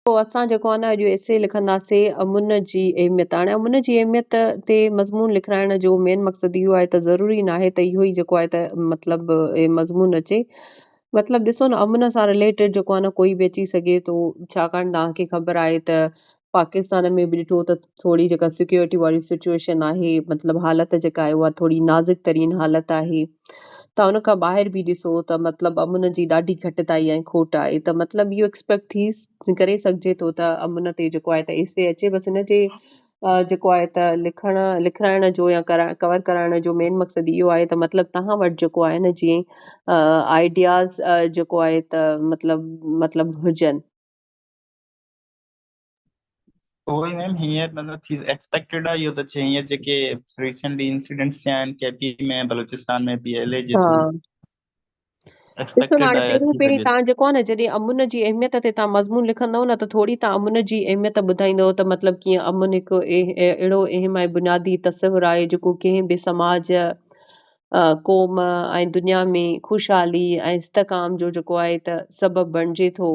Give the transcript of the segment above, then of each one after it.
پوء اسان جيڪو آهي نه اڄ ايسي لکنداسين امن جي اهميت. هاڻي امن جي اهميت تي مضمون لکرائڻ جو مين مقصد اهو آهي ته ضروري ناهي ته اهو ئي جيڪو آهي ته مطلب مضمون اچي. مطلب ڏسو نه امن سان رليٽيڊ جيڪو آهي نه ڪوئي به اچي سگهي ٿو ڇاڪاڻ توهان کي خبر آهي ته پاڪستان ۾ به ڏٺو ته. ٿوري جيڪا سيڪيورٽي واري سچوئيشن آهي مطلب حالت جيڪا آهي اها ٿوري نازڪ ترين حالت آهي تان ان کان ٻاهر به ڏسو ته مطلب امن جي ڏاڍي گهٽتائي ۽ کوٽ آهي ته مطلب اهو ايڪسپيڪٽ ٿي ڪري سگهجي ٿو ته امن تي جيڪو آهي ته ايسي اچي بس ان جي جيڪو آهي ته لکڻ لکرائڻ جو يا ڪور ڪرائڻ جو مين مقصد اهو آهي ته مطلب تهان وٽ جيڪو آهي نه جيئن آئيڊياز جيڪو آهي ته مطلب مطلب هجن اهو ئي ميم هيئن ته نه ٿي ايڪسپيڪٽيڊ آهي اهو ته چي هيئن جيڪي ريسنٽلي انسيڊنٽس ٿيا آهن K P ۾ Balochistan ۾ P L A جي ٿرو ڏسو هاڻي پهريون پهرين تان جيڪو آهي نه جڏهن امن جي اهميت تي تان مضمون لکندو نه ته ٿوري تان امن جي اهميت ٻڌائيندو ته مطلب ڪيئن امن هڪ اهڙو اهم ۽ بنيادي تصور آهي جيڪو ڪنهن به سماج قوم ۽ دنيا ۾ خوشحالي ۽ استقام جو جيڪو آهي ته سبب بڻجي ٿو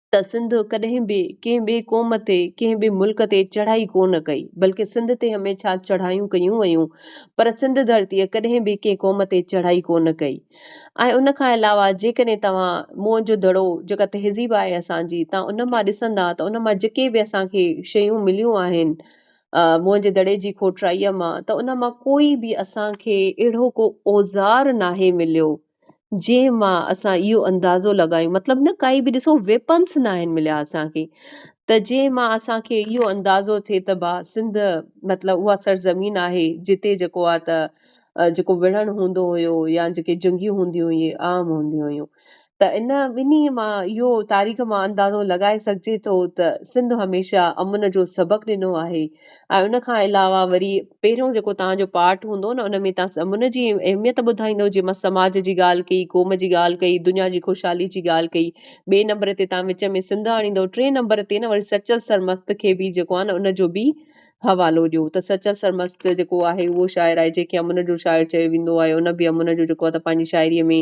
ته سنڌ ڪڏهن به ڪنهن ٻئي قوم تي، ڪنهن ٻئي ملڪ تي چڙهائي ڪو نه ڪئي، بلڪه سنڌ تي هميشه چڙهايون ڪيون ويون، پر سنڌ ڌرتيء ڪڏهن به ڪنهن قوم تي چڙهائي ڪو نه ڪئي. ۽ ان کان علاوه جيڪڏهن توهان موئن جو دڙو جيڪا تهذيب آهي اسان جي، توهان ان مان ڏسندا ته ان مان جيڪي به اسان کي شيون مليون آهن موئن جي دڙي جي کوٽرائيء مان ته ان مان ڪوئي به اسان کي اهڙو ڪو اوزار ناهي مليو، جنهن مان اسان اهو اندازو لڳايون مطلب نه ڪائي به ڏسو ويپنس نه آهن مليا اسانکي ته جنهن مان اسانکي اهو اندازو ٿئي ته با سنڌ مطلب اها سرزمين آهي جتي جيڪو آهي ته جيڪو وڙهڻ هوندو هيو يا جيڪي جنگيون هونديون هيون اهي عام هونديون هيون ته ان ٻنهي مان اهو تاريخ مان اندازو لڳائي سگهجي ٿو ته سنڌ هميشه امن جو سبق ڏنو آهي ۽ ان کان علاوه وري پهريون جيڪو تهان جو پارٽ هوندو نه ان ۾ تهان سمن جي اهميت ٻڌائيندو جي مس سماج جي ڳالهه ڪئي قوم جي ڳالهه ڪئي دنيا جي خوشحالي جي ڳالهه ڪئي ٻئي نمبر تي تهان وچ ۾ سنڌ آڻيندو ٽئين نمبر تي نه وري سچل سرمست کي به جيڪو آهي نه ان جو به حوالو ڏيو ته سچل سرمست جيڪو آهي اهو شاعر آهي جنهن کي امن جو شاعر چيو ويندو آهي ان به امن جو جيڪو آهي ته پنهنجي شاعري ۾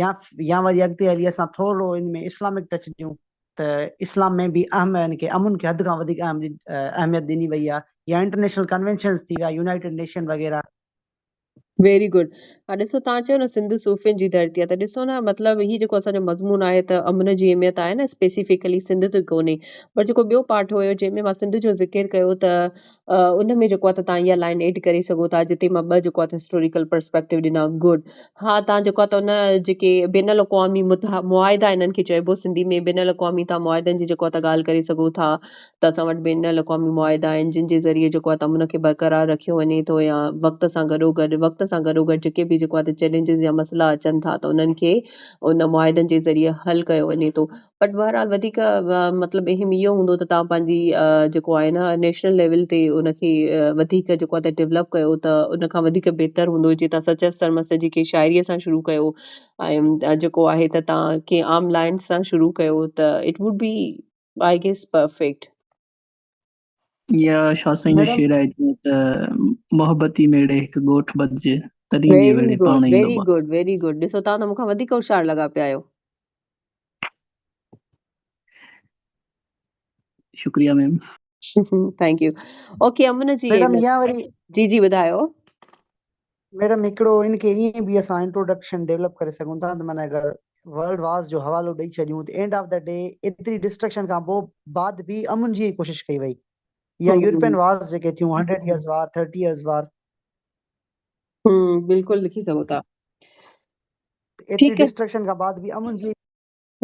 يا يا وري اڳتي هلي اسان ٿورڙو ان ۾ اسلامڪ ٽچ ڏيون ته اسلام ۾ به اهم يعني ڪي امن کي حد کان وڌيڪ اهم اهميت ڏني وئي آهي يا انٽرنيشنل ڪنوينشنز ٿي ويا يونائيٽيڊ نيشن وغيره ويري گڊ ها ڏسو تان چيو نه سنڌ صوفين جي ڌرتي آهي ته ڏسو نه مطلب هي جيڪو اسان جو مضمون آهي ته امن جي اهميت آهي نه اسپيسيفڪلي سنڌ تي ڪونهي پر جيڪو ٻيو پاٺ هيو جنهن ۾ مان سنڌ جو ذڪر ڪيو ته ان ۾ جيڪو آهي ته تان اها لائن ايڊ ڪري سگهو ٿا جتي مان ٻه جيڪو آهي ته هسٽوريڪل پرسپيڪٽو ڏنا گڊ ها تان جيڪو ته ان جيڪي بين الاقوامي معاهدا انهن کي چئبو سنڌي ۾ بين الاقوامي تان معاهدن جي جيڪو ته ڳالهه ڪري سگهو ٿا ته اسان وٽ بين الاقوامي معاهدا آهن جن جي ذريعي جيڪو ته امن کي برقرار رکيو وڃي ٿو يا وقت سان گڏو گڏ وقت سان گڏو گڏ جيڪي به جيڪو ته چئلينجز يا مسئلا اچن ٿا ته انهن کي ان معاهدن جي ذريعي حل ڪيو وڃي ٿو بٽ بهرحال وڌيڪ مطلب اهم اهو هوندو ته توهان پنهنجي جيڪو آهي نه نيشنل ليول تي ان کي وڌيڪ جيڪو آهي ته ڊيولپ ڪيو ته ان کان وڌيڪ بهتر هوندو جي تاسان چئس سرمست جي ڪي شاعريء سان شروع ڪيو ۽ جيڪو آهي ته تان ڪي عام لائنس سان شروع ڪيو ته it would be I guess perfect يا شاھ سائين جو شعر آهي جيئن ته محبتي ميڙي هڪ ڳوٺ ٻڌجي تڏهن جي ويڙي پاڻ ايندو ويري گڊ ويري گڊ ڏسو توهان ته مون کان وڌيڪ هوشيار لڳا پيا آهيو شڪريا ma'am thank you okay Aman ji جي جي ٻڌايو ميڊم هڪڙو ان کي ائين به اسان انٽروڊڪشن ڊيولپ ڪري سگهون ٿا ته معنيٰ اگر ورلڊ وارز جو حوالو ڏئي ڇڏيون ته اينڊ آف دي ڊي ايتري ڊسٽرڪشن کان پوء بعد به امن جي ڪوشش ڪئي وئي يا يورپين وارز جيڪي ٿيون hundred years war thirty years war بلڪل لکي سگهو ٿا ايتري ڊسٽرڪشن کان بعد به امن جي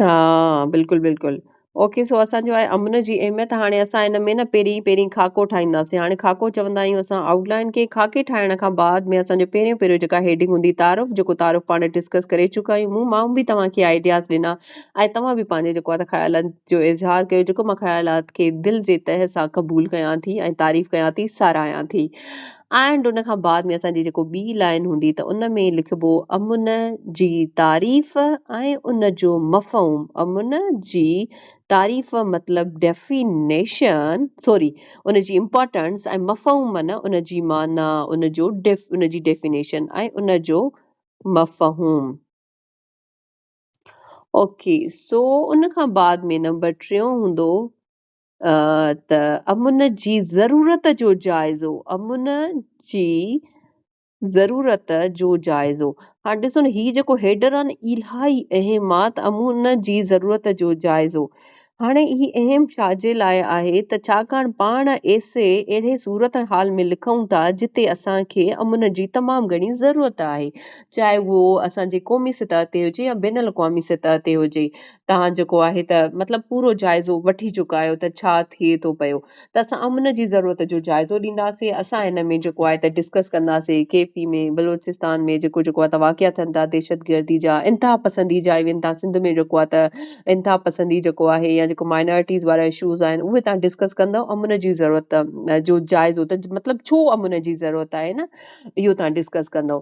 ها بلڪل بلڪل اوڪي سو اسان جو آهي امن جي اهميت هاڻي اسان ان ۾ نه پهرين پهرين خاڪو ٺاهينداسين هاڻي خاڪو چوندا آهيون اسان آئوٽ لائن کي خاڪي ٺاهڻ کان بعد ۾ اسان جو پهريون پهريون جيڪا هيڊنگ هوندي تعارف جيڪو تعارف پاڻ ڊسڪس ڪري چڪا آهيون مون ماڻهو به توهان کي آئيڊياز ڏنا ۽ توهان به پنهنجي جيڪو آهي خيالن جو اظهار ڪيو جيڪو مان خيالات کي دل جي تهه سان قبول ڪيان ٿي ۽ تعريف ڪيان ٿي ساراهيان ٿي اينڊ ان کان بعد ۾ اسان جي جيڪو ٻي لائن هوندي ته ان ۾ لکبو امن جي تعريف ۽ ان جو مفهوم امن جي تعريف مطلب ڊيفينيشن سوري ان جي امپارٽنس ۽ مفهوم معنيٰ ان جي معنيٰ ان جو ان جي ڊيفينيشن ۽ ان جو مفهوم اوڪي سو ان کان بعد ۾ نمبر ٽيون هوندو ته امن جي ضرورت جو جائزو امن جي ضرورت جو جائزو هاڻ ڏسو نه هي جيڪو هيڊر آهي نه الاهي اهم آهي ته امن جي ضرورت جو جائزو هاڻي هي اهم ڇاجي لاء آهي ته ڇاڪاڻ پاڻ ايسي اهڙي صورت حال ۾ لکون ٿا جتي اسان کي امن جي تمام گهڻي ضرورت آهي چاهي اهو اسان جي قومي سطح تي هجي يا بين الاقوامي سطح تي هجي توهان جيڪو آهي ته مطلب پورو جائزو وٺي چڪا آهيو ته ڇا ٿئي ٿو پيو ته اسان امن جي ضرورت جو جائزو ڏينداسين اسان ان ۾ جيڪو آهي ته ڊسڪس ڪنداسين ڪي پي ۾ بلوچستان ۾ جيڪو جيڪو آهي ته واقعا ٿين ٿا دهشت گردي جا انتها پسندي جا ايون تان سنڌ ۾ جيڪو آهي ته انتها پسندي جيڪو آهي يا جيڪو مائنارٽيز وارا اشوز آهن اهي تان ڊسڪس ڪندو امن جي ضرورت جو جائزو ته مطلب ڇو امن جي ضرورت آهي نه اهو تان ڊسڪس ڪندو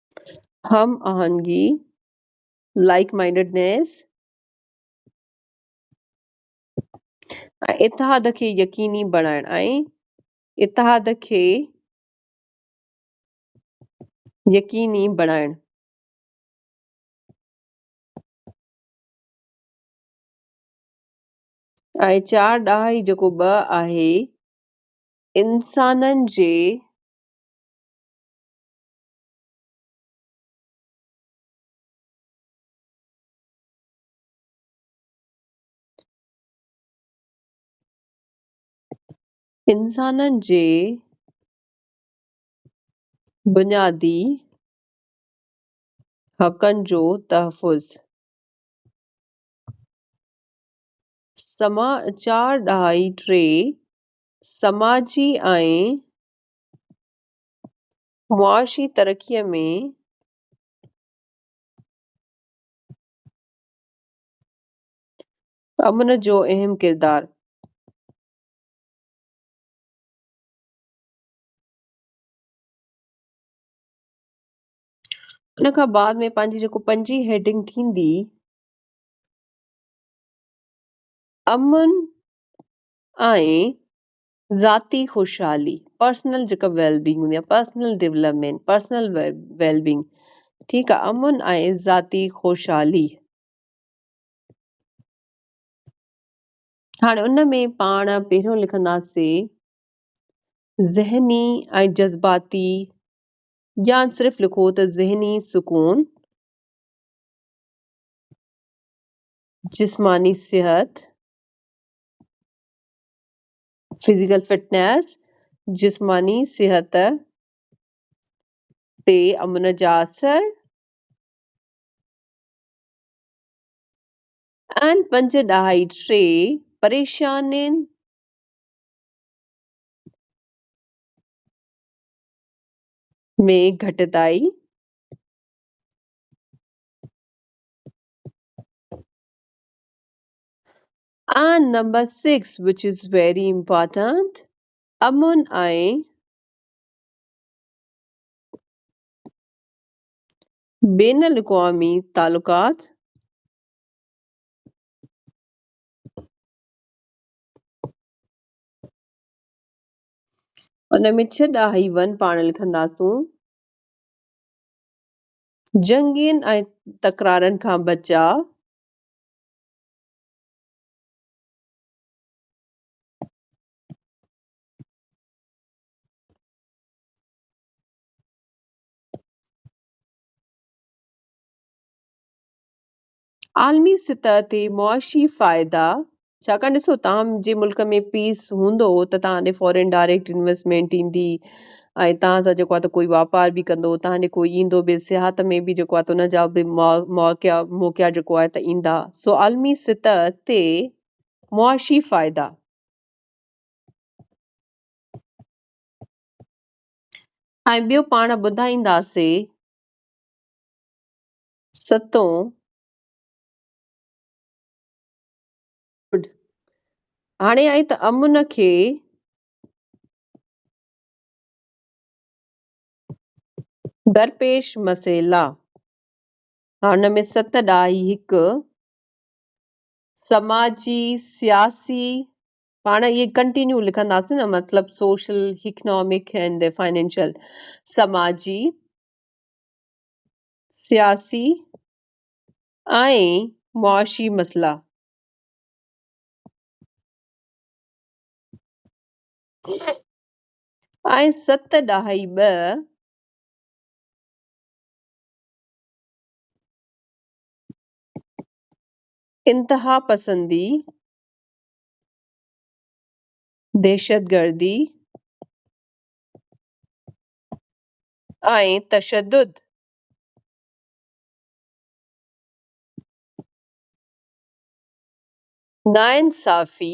هم آهنگي، Like Mindedness، ۽ اتحاد کي يقيني بڻائڻ ۽ اتحاد کي يقيني بڻائڻ. ۽ چار ڏهائي جيڪو ٻه آهي، انسانن جي انسانن جي بنيادي حقن جو تحفظ، سما چار ڏهائي ٽي، سماجي ۽ معاشي ترقيء ۾ امن جو اهم ڪردار. ان کان بعد ۾ پنهنجي جيڪو پنجين هيڊنگ ٿيندي امن ۽ ذاتي خوشحالي، Personal جيڪا Well Being هوندي آهي Personal Development Personal Well Being ٺيڪ آهي امن ۽ ذاتي خوشحالي هاڻي ان ۾ پاڻ پهريون لکنداسين ذهني ۽ جذباتي يا صرف لکو ته ذهني سڪون جسماني صحت فزيڪل فٽنيس، جسماني صحت، تي امن جا اثر ۽ پنج ڏهائي ٽي پريشانين ۾ گهٽتائي، ۽ number six which is very important امن ۽ بين الاقوامي تعلقات ان ۾ ڇهه ڏاهي ون پاڻ لکنداسون جنگين ۽ تڪرارن کان بچاء عالمي سطح تي معاشي فائدا ڇاڪاڻ ڏسو تهان جي ملڪ ۾ پيس هوندو ته تهان ڏي فارين ڊائريڪٽ انويسٽمينٽ ايندي ۽ توهان سان جيڪو آهي ته ڪوئي واپار به ڪندو، توهان جي ڪوئي ايندو به، سياحت ۾ به جيڪو آهي ته ان جا به مواقعا موقعا جيڪو آهي ته ايندا، سو عالمي سطح تي معاشي فائدا. ۽ ٻيو پاڻ ٻڌائينداسي ستون هاڻي آئي ته امن کي درپيش مسئلا هن ۾ ست ڏاهي هڪ سماجي سياسي پاڻ اهي ڪنٽينيو لکنداسين نه مطلب سوشل اڪنامڪ اينڊ فائنينشل سماجي سياسي ۽ معاشي مسئلا آئين ست ڏهائي ٻه انتهاپسندي، دهشتگردي ۽ تشدد ناانصافي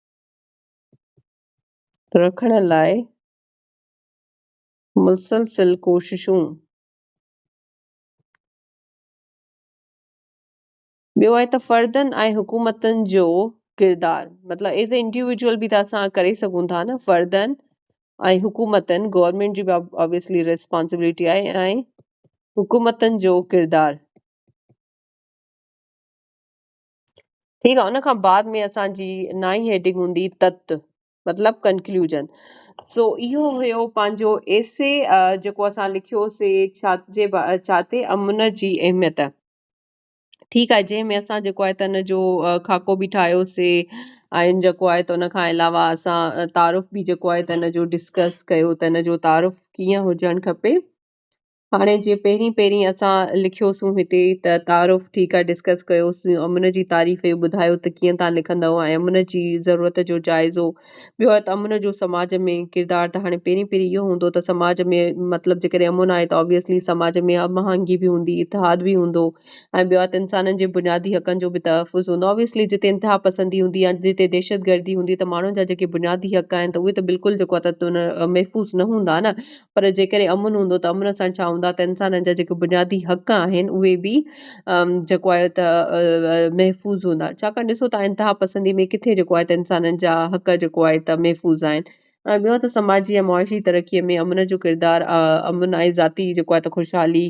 رکڻ لاء مسلسل ڪوششون ٻيو آهي ته فردن ۽ حڪومتن جو ڪردار مطلب ایز اے انڊيويجول بي ته اسان ڪري سگهون ٿا نه فردن ۽ حڪومتن گورنمنٽ جي اوبيسلي ريسپانسبلٽي آهي ۽ حڪومتن جو ڪردار ٺيڪ آ ان کان بعد ۾ اسان جي نائين هيڊنگ هوندي تت مطلب ڪنڪلوجن سو اهو هيو پنهنجو ايسي جيڪو اسان لکيوسي ڇاتجي ڇاتي امن جي اهميت ٺيڪ آ جنهن ۾ اسان جيڪو آهي ته ان جو خاڪو به ٺاهيوسي ۽ جيڪو آهي ته ان کان علاوه اسان تعارف به جيڪو آهي ته ان جو ڊسڪس ڪيو ته ان جو تعارف ڪيئن هجڻ کپي هاڻي جيئن پهرين پهرين اسان لکيوسون هتي ته تعارف ٺيڪ آهي ڊسڪس ڪيوسين امن جي تعريف ۽ ٻڌايو ته ڪيئن تان لکندؤ ۽ امن جي ضرورت جو جائزو ٻيو آهي ته امن جو سماج ۾ ڪردار ته هاڻي پهرين پهرين اهو هوندو ته سماج ۾ مطلب جيڪڏهن امن آهي ته آبويسلي سماج ۾ هم آهنگي به هوندي اتحاد به هوندو ۽ ٻيو آهي ته انسانن جي بنيادي حقن جو به تحفظ هوندو آبويسلي جتي انتها پسندي هوندي يا جتي دهشت گردي هوندي ته ماڻهن جا جيڪي بنيادي حق آهن ته اهي ته بلڪل جيڪو آهي ته محفوظ نه هوندا نه پر جيڪڏهن امن هوندو ته امن سان ڇا هوندا ته انسانن جا جيڪي بنيادي حق آهن اهي به جيڪو آهي ته محفوظ هوندا ڇاڪاڻ ڏسو ته انتها پسندي ۾ ڪٿي جيڪو آهي ته انسانن جا حق جيڪو آهي ته محفوظ آهن ۽ ٻيو ته سماجي ۽ معاشي ترقي ۾ امن جو ڪردار امن ۽ ذاتي جيڪو آهي ته خوشحالي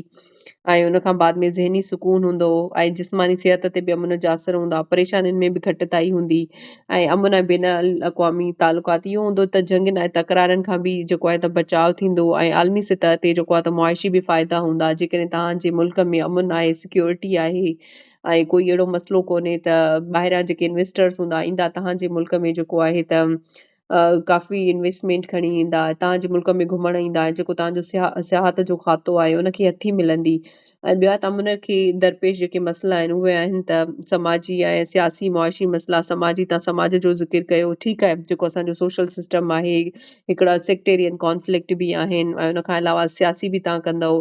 ۽ ان کان بعد ۾ ذهني سڪون هوندو ۽ جسماني صحت تي به امن جا اثر هوندا، پريشانين ۾ به گهٽتائي هوندي ۽ امن ۽ بين الاقوامي تعلقات اهو هوندو ته جنگين ۽ تڪرارن کان به جيڪو آهي ته بچاء ٿيندو ۽ عالمي سطح تي جيڪو آهي ته معاشي به فائدا هوندا جيڪڏهن توهان جي ملڪ ۾ امن آهي سيڪيورٽي آهي ۽ ڪوئي اهڙو مسئلو ڪونهي ته ٻاهريان جيڪي انويسٽرز هوندا ايندا توهان جي ملڪ ۾ جيڪو آهي ته ڪافي انويسٽمينٽ کڻي ايندا اتان جي ملڪ ۾ گهمڻ ايندا جيڪو تهان جو سياح سياحت جو کاتو آهي ان کي هٿي ملندي ۽ ٻيا تام ان کي درپيش جيڪي مسئلا آهن اهي آهن ته سماجي ۽ سياسي معاشي مسئلا سماجي تان سماج جو ذڪر ڪيو ٺيڪ آهي جيڪو اسانجو سوشل سسٽم آهي هڪڙا سيڪٽيرين ڪانفلڪٽ به آهن ۽ ان کان علاوه سياسي به تان ڪندو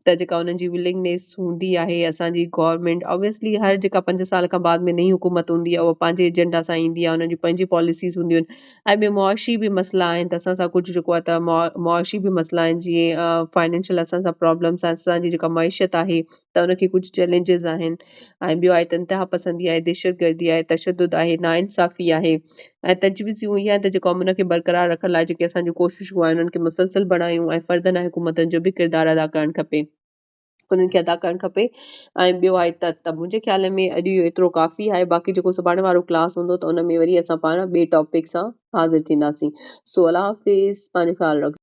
ته جيڪا انهن جي ولنگنيس هوندي آهي اسان جي گورنمينٽ اوبيسلي هر جيڪا پنج سال کان بعد ۾ نئي حڪومت هوندي آهي اها پنهنجي ايجنڊا سان ايندي آهي انهن جون پنهنجي پاليسيز هونديون آهن ۽ ٻي معاشي به مسئلا آهن ته اسان سان ڪجهه جيڪو آهي ته معاشي به مسئلا آهن جيئن فائنينشل اسان سان پرابلمس آهن اسان جي جيڪا معيشت آهي ته ان کي ڪجهه چئلينجز آهن ۽ ٻيو آهي ته انتهاپسندي آهي، دهشتگردي آهي، تشدد آهي، ناانصافي آهي ۽ تجويز اهو ئي آهي ته جيڪو امن کي برقرار رکڻ لاء جيڪي اسان جون ڪوششون آهن انهن کي مسلسل بڻايون ۽ فردن ۽ حڪومتن جو به ڪردار ادا ڪرڻ کپي. انهن کي ادا ڪرڻ کپي ۽ ٻيو آهي ته ته منهنجي خيال ۾ اڄ اهو ايترو ڪافي آهي باقي جيڪو سڀاڻي وارو ڪلاس هوندو ته ان ۾ وري اسان پاڻ ٻئي ٽاپڪ سان حاضر ٿينداسين سو الله حافظ پنهنجو خيال رکجو.